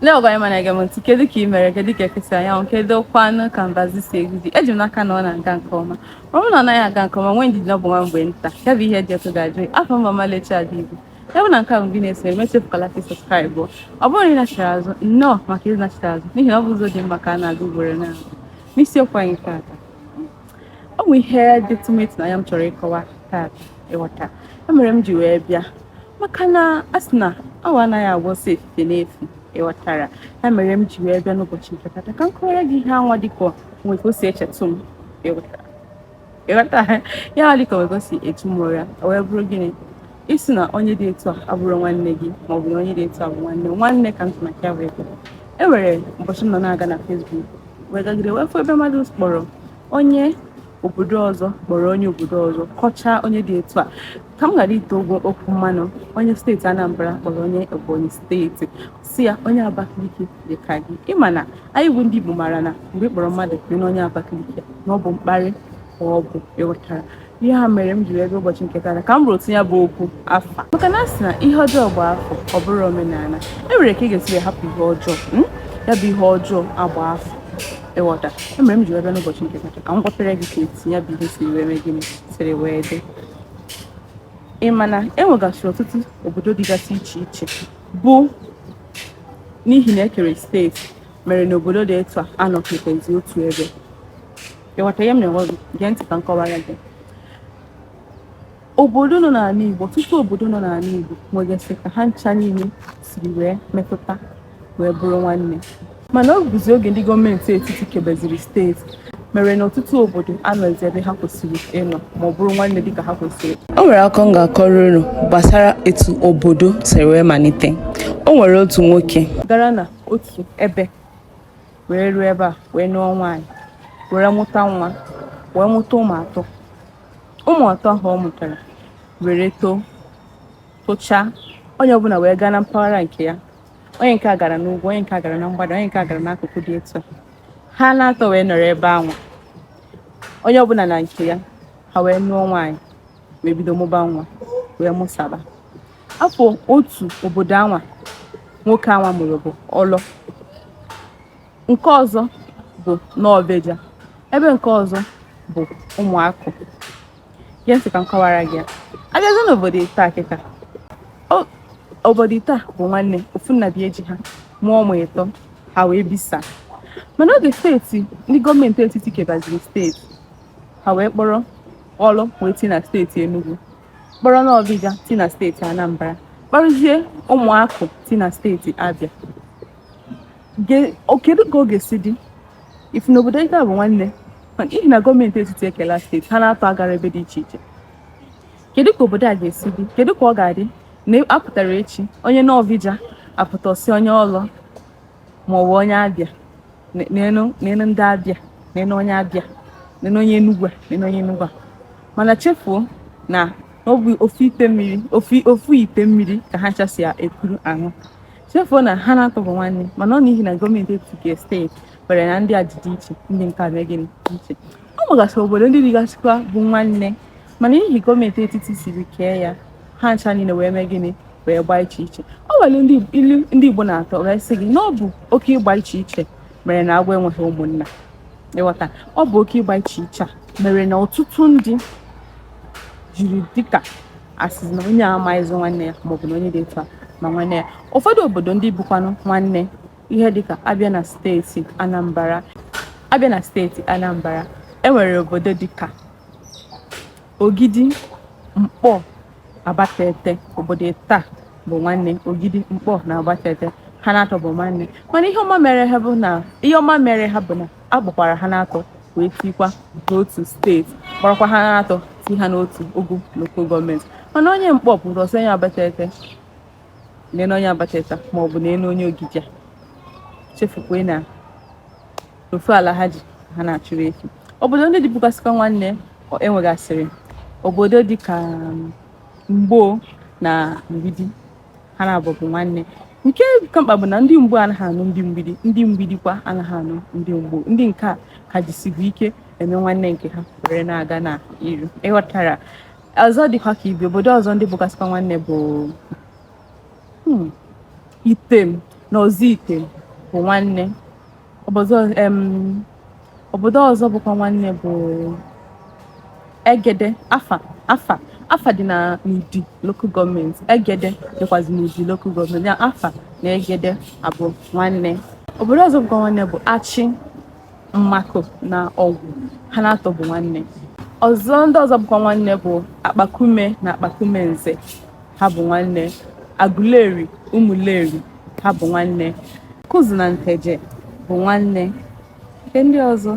Lee ọgọ anyị ọma na-ege m ntị kedu ka ị mere kedu ka eke si anya anwụ kedu kwanụ ka mbazụ si egwu ji eji m n'aka na ọ na-aga nke ọma ọ bụrụ na ọ naghị aga nke ọma nwee ndidi na ọ bụ nwa mgbe nta ya bụ ihe dị ọkụ ga-ajụ afa m bụ Ọmalịcha Ada Igbo ya bụ na nke a bụ gị na-eso m echefukwala ka subscribe ọ bụrụ na ị nachiri azụ nnọọ maka iji nachiri azụ n'ihi na ọ bụ ụzọ dị mma ka a na-aga ugboro na n'isiokwu anyị taata ọ bụ ihe dị tụmetụ na ya m chọrọ ịkọwa taata ịghọta ya mere m ji wee bịa maka na a sị na awọ anaghị agba ọsọ efifie n'efu ịghọtara ya mere m ji wee bịa n'ụbọchị nke tata ka m kọwara gị ihe anwa dịka o nwe ka o si echetụ m ịghọtara ịghọtara ihe anwa dịka o nwe ka o si echu m ụra o wee bụrụ gịnị ịsị na onye dị etu a abụrọ nwanne gị ma ọ bụ na onye dị etu a bụ nwanne nwanne ka m ji maka ya wee bịa e nwere ụbọchị m nọ na-aga na Facebook wee gagide wee fụ ebe mmadụ kpọrọ onye obodo ọzọ kpọrọ onye obodo ọzọ kọchaa onye dị etu a ka m ghara ite okwu mmanụ onye steeti Anambra kpọrọ onye Ebonyi steeti sị ya onye Abakaliki dị ka gị ị ma na anyị bụ ndị Igbo mara na mgbe ị kpọrọ mmadụ kpee na onye Abakaliki na ọ bụ mkparị ka ọ bụ ịghọtara ihe a mere m ji wee bịa ụbọchị nke tata ka m rụtụ ya bụ okwu aka maka na a sị na ihe ọjọọ gbaa afọ ọ bụrụ omenala e nwere ka ị ga-esi hapụ ihe ọjọọ hmm? ya bụ ihe ọjọọ agba afọ ịghọta ihe mere m ji wee bịa n'ụbọchị nke tata ka m gwapere gị ka etu ya bụ ihe si wee mee gịnị siri wee dị ị ma na e nwegasịrị ọtụtụ obodo dịgasị iche iche bụ n'ihi na e kere steeti mere na obodo dị etu a anọkọtazi otu ebe ịghọta ihe m na-agwa gị gee ntị ka m kọwara gị obodo nọ n'ala Igbo ọtụtụ obodo nọ n'ala Igbo nwegasị ka ha ncha niile siri wee metụta wee bụrụ nwanne mana ọ bụzi oge ndị gọọmenti etiti kebeziri steeti mere na ọtụtụ obodo anọzi ebe ha kwesịrị ịnọ ma ọ bụrụ nwanne dịka ha kwesịrị o nwere akụkọ m ga-akọrọ unu gbasara etu obodo siri wee malite o nwere otu nwoke gara na otu ebe wee ruo ebe a wee nụọ nwaanyị were mụta nwa wee mụta ụmụ atọ ụmụ atọ ahụ ọ mụtara were too tochaa onye ọbụla wee gaa na mpaghara nke ya onye nke a gara n'ugwu onye nke a gara na mgbada onye nke a gara n'akụkụ dị etu a ha na-atọ wee nọrọ ebe anwa onye ọbụla na nke ya ha wee nụọ nwaanyị wee bido mụba nwa wee mụsaba afa otu obodo anwa nwoke anwa mụrụ bụ Ọlọ nke ọzọ bụ Nọbeja ebe nke ọzọ bụ Ụmụakụ Gee ntị ka m kọwara gị ya. Abịazie n'obodo ịtọ a kịta. O- Obodo ịtọ a bụ nwanne ofu nna bịa eji ha mụọ ụmụ ịtọ ha wee bisa. Mana oge steeti ndị gọọmenti etiti kebaziri steeti ha wee kpọrọ Ọlọ wee ti na steeti Enugu kpọrọ Nọvịja ti na steeti Anambra kpọrọzie Ụmụakụ ti na steeti Abịa kedu ka ọ ga-esi dị ị fụ na obodo nke a bụ nwanne mana ihi na gọọmenti etiti ekela steeti ha na-atọ agara ebe dị iche iche kedu ka obodo a ga-esi dị kedu ka ọ ga-adị na a pụtara echi onye Nọvịja apụta sị onye Ọlọ ma ọ bụ onye Abịa nene ndị Abịa nene onye Abịa nene onye Enugwu nene onye Enugwu a mana chefuo na ọ bụ ofu ite mmiri ofu ite mmiri ka ha ncha si ekuru aṅụ chefuo na ha na-atọ bụ nwanne mana ọ n'ihi na gọọmenti etiti steeti kwere na ndị a dị iche ndị nke mee gịnị iche ọ nwegasị obodo ndị dịgasịkwa bụ nwanne mana n'ihi gọọmenti etiti siri kee ya ha ncha niile wee mee gịnị wee gbaa iche iche ọ nwere ilu ndị Igbo na-atụ wee sị gị na ọ bụ oke ịgba iche iche mere na agwọ enweghị ụmụnna ị ghọta ọ bụ oke ịgba iche iche a mere na ọtụtụ ndị jiri dịka a sị na onye amaghịzị nwanne ya maọbụ na onye dị etu a ma nwanne ya ụfọdụ obodo ndị bụkwanụ nwanne ihe dịka a bịa na steeti Anambra a bịa na steeti Anambra e nwere obodo dịka Ogidi Mkpọ Abatete obodo ịtọ a bụ nwanne Ogidi Mkpọ na Abatete ha na-atọ bụ nwanne mana ihe ọma mere ha bụ na ihe ọma mere ha bụ na a kpọkwara ha na-atọ wee tikwa n'otu steeti kpọrọkwa ha na-atọ ti ha n'otu ogo lokal gọọmenti mana onye Mkpọ pụrụ ịsị onye Abatete nene onye Abatete a maọbụ nene onye Ogidi a chefukwe na ofu ala ha ji ha na-achụrụ efi obodo ndị dịbụgasịkwa nwanne e nwegasịrị obodo dịka um, mgbo na mgbidi ha naabọ bụ nwanne nke ka mkpa bụ na ndị mgbo anaghị anụ ndị mgbidi ndị mgbidi kwa anaghị anụ ndị mgbo ndị nke a ka jisibu ike eme nwanne nke ha were na-aga na iru ị ghọtara ọzọ dịkwa ka ibe obodo ọzọ ndị bụgasịkwa nwanne bụ hmm, Item na Ozuitem bụ nwanne Obodo ọzọ bụkwa nwanne bụ Egede Afa Afa Afa dị na n'Udi lokal gọọmenti Egede dịkwazị n'Udi lokal gọọmenti ya Afa na Egede abụ nwanne obodo ọzọ bụkwa nwanne bụ Achị Mmakụ na Ọgwụ ha na-atọ bụ nwanne ọzọ ndị ọzọ bụkwa nwanne bụ Akpakume na Akpakume Nze ha bụ nwanne. Aguleri, Umuleri, ha bụ nwanne. Awkuzu na Nteje bụ nwanne. Nke ndị ọzọ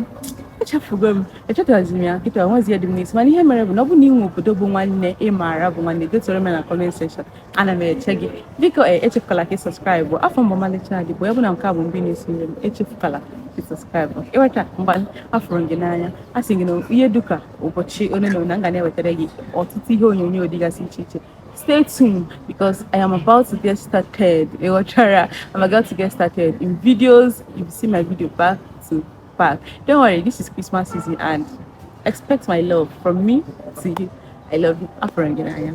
echefugo m echetazirọ m ya kịta o nwezi ihe dị m n'isi mana ihe mere bụ na ọ bụ na i nwee obodo bụ nwanne ị maara bụ nwanne detuoro m na comment section ana m eche gị biko e, echefukala ka ị subscribe afa m bụ Ọmalịcha Ada Igbo ya bụ na nke a bụ mbụ ị na-esonyere m echefukala ka ị subscribe ị ghọta mgbe afụrụ gị n'anya a sị gị na ihe dịka ụbọchị ole na ole m ga na-ewetara gị ọtụtụ ihe onyonyo dịgasị iche iche stay tuned because I am about to get started ị ghọtara I'm about to get started in videos you see my video back to back don't worry this is Christmas season and expect my love from me to you I love you afụrụ m gị n'anya